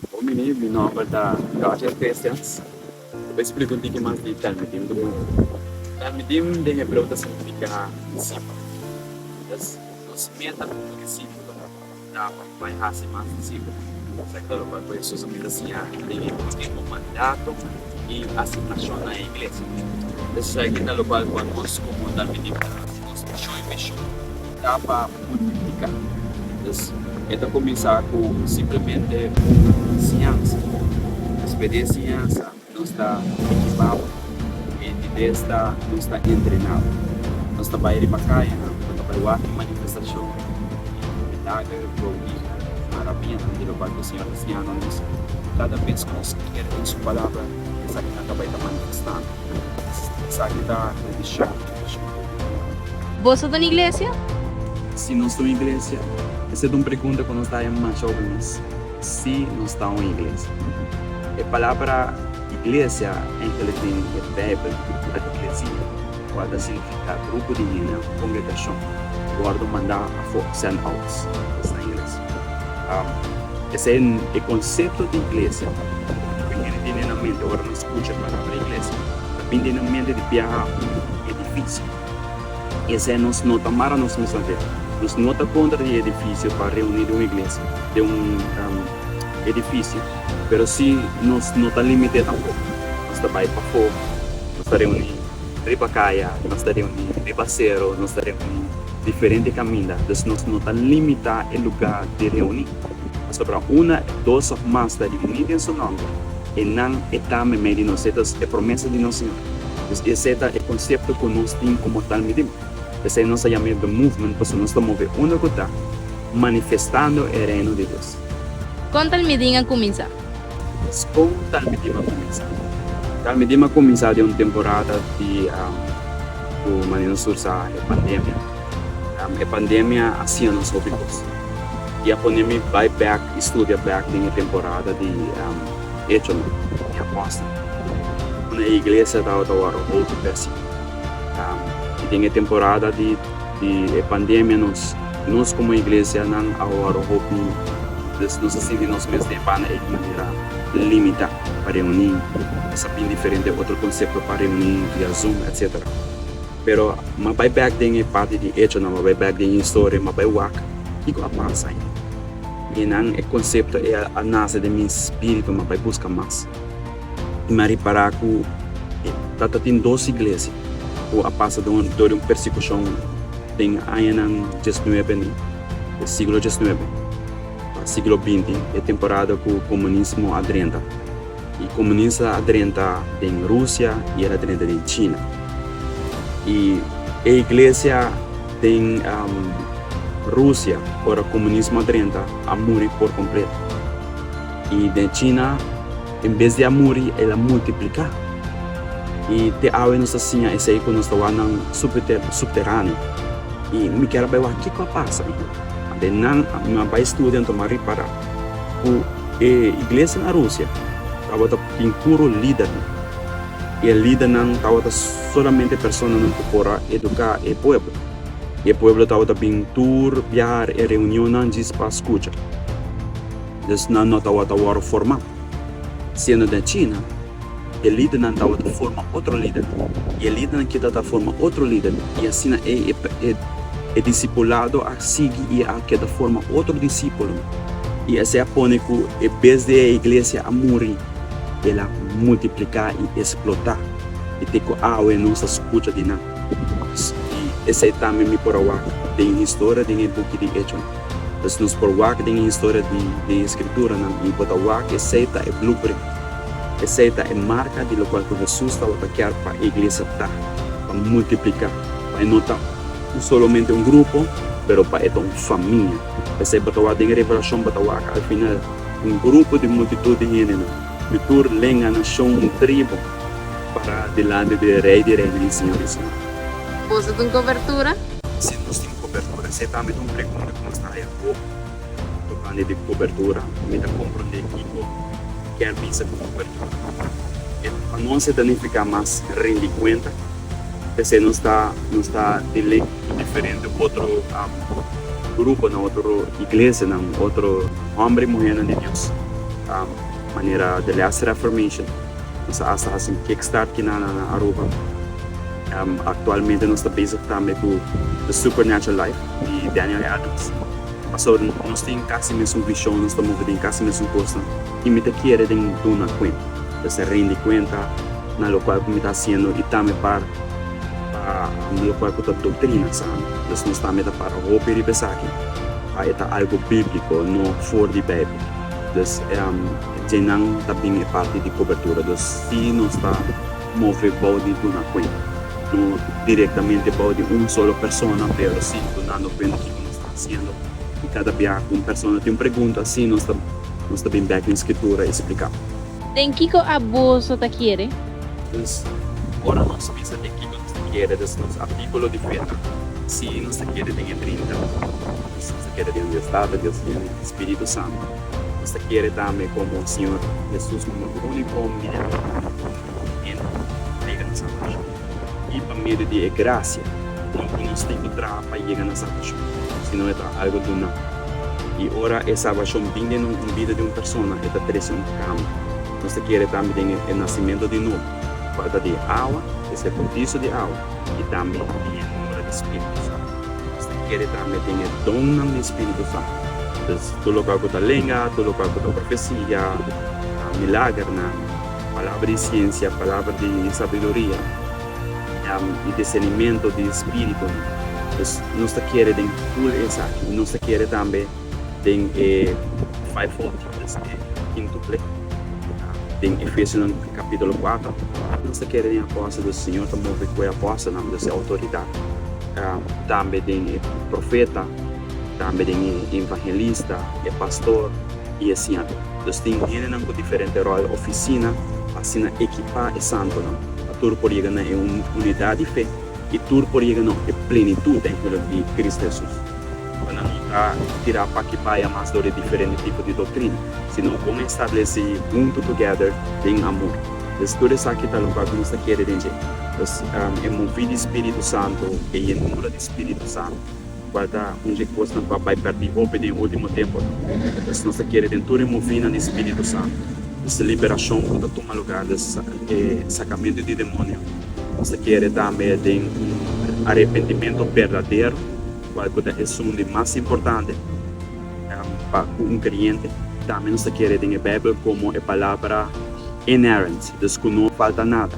Bon mi, mi nomber ta Roger Christians. Cu bo explica un tiki mas di Talmidim cu bo? Talmidim den hebreu ta significa discipel. Entonces nos meta como discipel ta pa bai haci mas discipel. Esaki ta lo cual cu Hesus a manda siña den e ultimo mandato y asignacion na e iglesia. Entonces esaki ta lo cual cu nos como Talmidim ta. Nos mishon i vision ta pa multiplica. Entonces e ta cuminsa cu simplemente un enseñansa. Despues di e enseñansa nos ta equipabo y di bes ta nos ta entrenabo. Nos ta bay riba cayanan, nos ta bay wak e manifestacion y milager, prodi, marabianan di lo cual cu e Señor ta enseñando nos. Cada bes cu nos creer en su palabra esaki nan ta bay ta manifestando. Esaki ta e vision. Boso ta un iglesia? Si nos ta un iglesia? Esei ta un pregunta ku nos ta haña masha òpnias. Sí, nos ta un iglesia. E palabra iglesia en latin di e Beibel ta ecclesia, kual ta signifiká grupo di hende òf kongregashon ku wòrdu mandá afó, sènt out, esta ingles. Esei e konsepto di iglesia ku e hende tene na mente ora nan. Escucha Palabra Iglesia ta bindi na mente di biaha un edificio. Esei nos no ta mara nos mes aver. Nos no ta contra di e edificio pa reuni den un iglesia, den un edificio, pero si nos no ta limite tampoco. Nos ta bai pafo, nos ta reuni riba caya, nos ta reuni riba cerro, nos ta reuni diferente caminda. Dus nos no ta limita e lugar di reuni. Pasobra una, dos of mas ta reuni den su nomber. e nan e ta memé di nos, esta es e promesa di nos Señor. Pues esei ta e concepto cu nos tin como tal midim. P'esei nos a yam'é The Movement, pasobra nos ta move unda cu ta manifestando e Reino di Dios. Con tal midim a cuminsa? Pues con tal midim a cuminsa? Tal midim a cuminsa den un temporada di cu manera nos usa e pandemia. E pandemia a siña nos hopi kos i a pone mi bai bèk i studia bèk den e temporada di Echonan i Apòstel, unda e iglesia tabata wòrdu hopi bèsi. I den e temporada di e pandemia nos nos komo iglesianan a wòrdu hopi, nos a sinti nos mes den banda ei di manera limitá pa reuní, nos a bin diferente otro konsepto pa reuní via Zoom, etcetera. Pero m'a bai bek den e parti di Echonan, m'a bai bek den historia, m'a bai wak kiko a pasa ain. E nan e konsepto e a nase den mi spiritu, m'a bai buska mas. I m'a ripará ku ta ta tin dos iglesia ku a pasa dor di un persekushon den añanan dies nuebe, den siglo dies nuebe pa siglo binti, e temporada ku komunismo a drenta. E komunista a drenta den Rusia i el a drenta den China. I e iglesia den Rusia, ora komunismo a drenta, a muri por kompleto. I den China, en bes di a muri, el a multipliká. I te awe nos ta siña esei ku nos ta wak nan supteráneo. I mi kier a bai wak kiko a pasa. Nan a bai studia, anto mi a ripará. Ku e iglesia na Rusia tabata tin puru lidernan, i e lidernan tabata solamente personanan ku por a eduká e pueblo, i e pueblo tabata bin tur biaha e reunionnan djis pa skucha. Dus nan no tabata wòrdu formá. Siendo den China. E lidernan tabata forma otro lider, i e lidernan ke ta ta forma otro lider, i asina ei e disipulado a sigui i a keda forma otro disipulo, i esei a pone ku e bes di e iglesia a muri, el a multipliká i esplotá, i te ku awe nos ta skucha di nan. I esei tambe mi por a wak den e historia den e buki di Echonan. Pues nos por wak den e historia di e skrituranan i bo ta wak esei ta e blueprint. Esei ta e marka di lokual ku Hesus tabata kier pa e iglesia ta, pa multipliká, pa e no ta un solomente un grupo, pero pa e ta un famia. P'esei bo ta wak den e revelashon, bo ta wak al final un grupo di multitut di hendenan, di tur lenga, nashon i tribu, pará dilanti di e Rei di reinan i Señor di señornan. Boso tin kobertura? Si nos tin kobertura, esei tambe ta un pregunta ku nos ta haya hopi. Tocante di cobertura, mi ta comprende kico kier bisa cu cobertura. E pa nos e ta nifica mas rindi cuenta, p'esei nos ta nos ta di ley cu diferente otro gruponan, otro iglesianan, otro homber y muhernan di Dios, manera The Last Reformation, nos a hasta haci un kickstart aquí na Aruba. Actualmente nos ta bezig tambe cu The Supernatural Life di Daniel Adams. So, nos tin kasi mesun vishon, nos ta move den kasi mesun kosnan, i mi ta kere den duna kuenta, ta ser rendi kuenta na lokual ku mi ta hasiendo i tambe par pa lokual ku ta doktrina sano. Pues nos tambe ta para hopi riba esaki pa e ta algu bíbliko, no for di Beibel. Pues, djeinan ta bin e parti di kobertura. Pues, si nos ta move bou di duna kuenta, no direktamente bou di un solo persona, pero si dunando kuenta kiko nos. Siendo di kada biaha ku un persona tin un pregunta así, nos ta nos ta bin bèk na e Skritura i spliká. Den kiko abuso ta kere? Pues, ora nos bisa den kiko nos ta kere, ta nos artíkulo di fe ta, Sí, nos ta kere den e Trinta. Pues, nos ta kere den Dios Tata, Dios Inu i Spiritu Santu. Nos ta kere tambe komo Siñor Hesus, komo e úniku Hom di Dios ku ta murá pa nos, i den Hom ta trega nos salbashon. I pa medio di e gracia, no ku nos tin ku traha pa yega na salbashon, sino e ta algu duná. I ora e salbashon bin den un bida di un persona, e ta trese un kambi. Nos ta kere tambe den e nasimentu di nobo, falta di awa, es e bautizo di awa, i tambe den e obra di spiritu santu. Nos ta kere tambe den e donnan di spiritu santu. Tur lokual ku ta lenga, tur lokual ku ta profesia, milagernan. Palabra di siensia, palabra di sabiduria, i discernimento di spiritunan. Pues nos ta kere den full esaki, i nos ta kere tambe den e fivefold gifts, e kintuple, ku ta den Efesionan capitulo cuatro. Nos ta kere den apòstel, pues Señor ta move ku e apòstelnan, pues e outoridat, ku tambe den e profeta, tambe den e evangelista, e pastor, i e siento. Dus tin hendenan ku diferente ròl, ofisina, pa asina ekipá e santunan pa tur por yega na e unidat di fe i tur por yega na e plenitut den hüwlik di Krist Hesus. Bo nan no ta tirá p'aki baya mas dor di diferente tipo di doktrina, sino bo mester stablesí huntu togèder den amor. Pues tur esaki ta lokual ku nos ta kere den dje. Pues e moví di spiritu santu, e yenura di spiritu santu. Bata un dje kosnan pa bai pèrdí hopi den e último tempunan. Esnan ta kere den tur e movinan di spíritu santu. Esta liberashon ku ta tuma lugá den e sakamentu di demonio ta kere tambe den un arepentimentu berdadero, kual ku ta esun di mas importante pa un kreyente. Tambe nos ta kere den e Beibel komo e palabra inerrant, dus ku no falta nada.